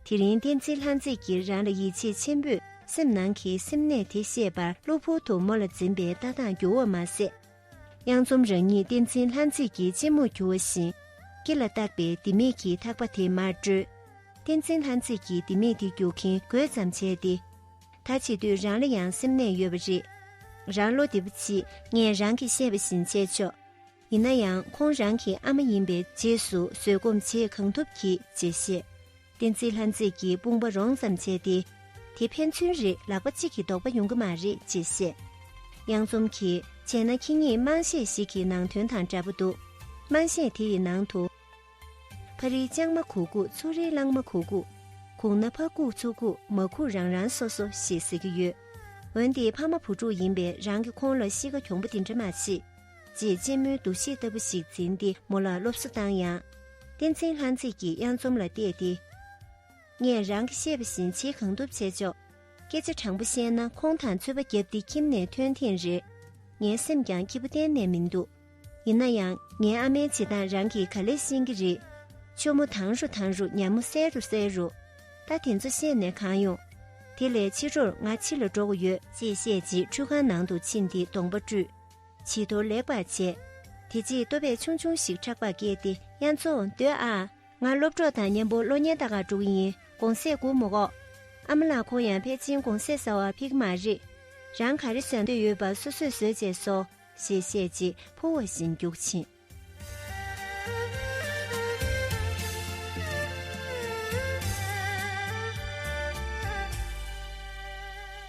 དེ་རིང་བསྟན་འཛིན་ལྷ་མཛེས་ཀྱིས་རང་ལ་ཡིད་ཆེས་ཆེན་པོས་སེམས་ནང་གི་སེམས་ནད་དེ་བཤད་པར་གློ་བུར་དུ་མོ་ལ་འཛིན་པའི་ལྟ་སྟངས་འགྱུར་བ་མ་ཟད། གཡང་འཛོམས་རང་ཉིད་བསྟན་འཛིན་ལྷ་མཛེས་ཀྱི་གཅེན་མོར་གྱུར་བ་བཞིན། སྐེ་ལ་བཏགས་པའི་ལྡེ་མིག་གིས་ཐག་པ་དེ་མར་བཀྲོལ། བསྟན་འཛིན་ལྷ་མཛེས་ཀྱིས་ལྡེ་མིག་དེ་རྒྱུག་གིན་དགོད་ཙམ་བྱས་ཏེ། ད་བྱེད་དུས་རང་ལ་ཡང་སེམས་ནད་ཡོད་པ་རེད། རང་བློ་བདེ་པོ་གྱིས་ངས་རང་གིས་བཤད་པ་བཞིན་བྱས་ཆོག། ཡིན་ན་ཡང་ཁོང་རང་གི་ཨ་མ་ཡིན་པའི་རྗེས་སུ་བཟོད་སྒོམ་བྱེད་གང་ཐུབ་གྱིས་རྗེས་ཤེས། བསྟན་རྩིས་ལྷ་མཛེས་ཀྱི་དཔུང་པ་རོང་ཙམ་བྱས་ཏེ། དེ་ཕན་ཚུན་རེ་ལག་པ་གཅིག་གིས་འདོགས་པ་ཡོང་གི་མ་རེད་ཅེས་བཤད། གཡང་འཛོམས་ཀྱིས་བྱས་ན་ཁྱེད་ཉིད་དམངས་གཞས་ཤིག་གི་ནང་དོན་དང་འདྲ་པོ་འདུག་དམངས་གཞས་དེ་ཡི་ནང་དུ། ཕ་རིའི་ལྕང་མ་གུག་གུག་ཚུ་རིའི་གླང་མ་གུག་གུག། གུག་ན་ཕ་གུག་ཚུ་གུག་མ་གུག་རང་རང་སོ་སོ་ཞེས་ཟེར་གྱི་ཡོད། འོན་ཏེ་ཕ་མ་བུ་ཕྲུག་ཡིན་པའི་རང་གི་ཁོང་ལ་གཤིས་ཀ་གྱོང་པོ་འདི་འདྲ་མ་མཆིས། ཅེས་གཅེན་མོའི་འདུ་ཤེས་ལྟ་བུ་ཞིག་འཛིན་ཏེ་མོ་ལ་སློབ་གསོ་བཏང་ཡང། བསྟན་འཛིན་ལྷ་མཛེས་ཀྱིས་གཡང་འཛོམས་ལ་བལྟས་ཏེ། ངས་རང་གིས་ཤེས་པ་བཞིན་བྱེད་གང་ཐུབ་བྱས་ཆོག། སྐད་ཆ་དྲང་པོ་བཤད་ན་ཁོང་དང་ཚོད་པ་བརྒྱབ་སྟེ་ཁྱིམ་ནས་ཐོན་ཐེངས་རེར། ངའི་སེམས་ཀྱང་སྐྱིད་པོ་གཏན་ནས་མི་འདུག་ཡིན་ན་ཡང་ངའི་ཨ་མའི་བྱེད་སྟངས་རང་གིས་ག་ལེར་ཤེས་ཀྱི་རེད། ཆུ་མོ་དྭངས་རུ་དྭངས་རུ་ཉྭ་མོ་གསལ་རུ་གསལ་རུ། ད་དེ་ཚོ་བཤད་ནས་གང་ཡོང། དེ་ལས་ཕྱི་རོར་ང་ཕྱི་ལ་འགྲོ་དགོས་ཡོད། ཅེས་བཤད་རྗེས་ཁྲུས་ཁང་ནང་དུ་ཕྱིན་ཏེ་གདོང་པ་བཀྲུས། བྱི་དོར་ལེགས་པར་བྱས། དེ་རྗེས་ལྟོ་བས་ཆུང་ཆུང་ཞིག་ཕྲག་པར་བཀལ་ཏེ་དབྱར་མཚོ་འདོད་ཨ། ང་སློབ་གྲོགས་དང་གཉེན་པོ་གློག་བརྙན་ད་ག་འགྲོ་གི་ཡིན་དགོང་ཟས་བསྒུག་མོ་གོ། ཨ་མ་ལགས་ཁོང་ཡང་ཕལ་ཆེན་དགོང་ཟས་ཟ་བར་ཕིག་མ་རེད། རང་ག་རེ་བཟའ་འདོད་ཡོད་པ་སོ་སོས་བཟོས་བྱས་སོ། ཞེས་བཤད་རྗེས་ཕུ་བོ་བཞིན་རྒྱུག་ཕྱིན།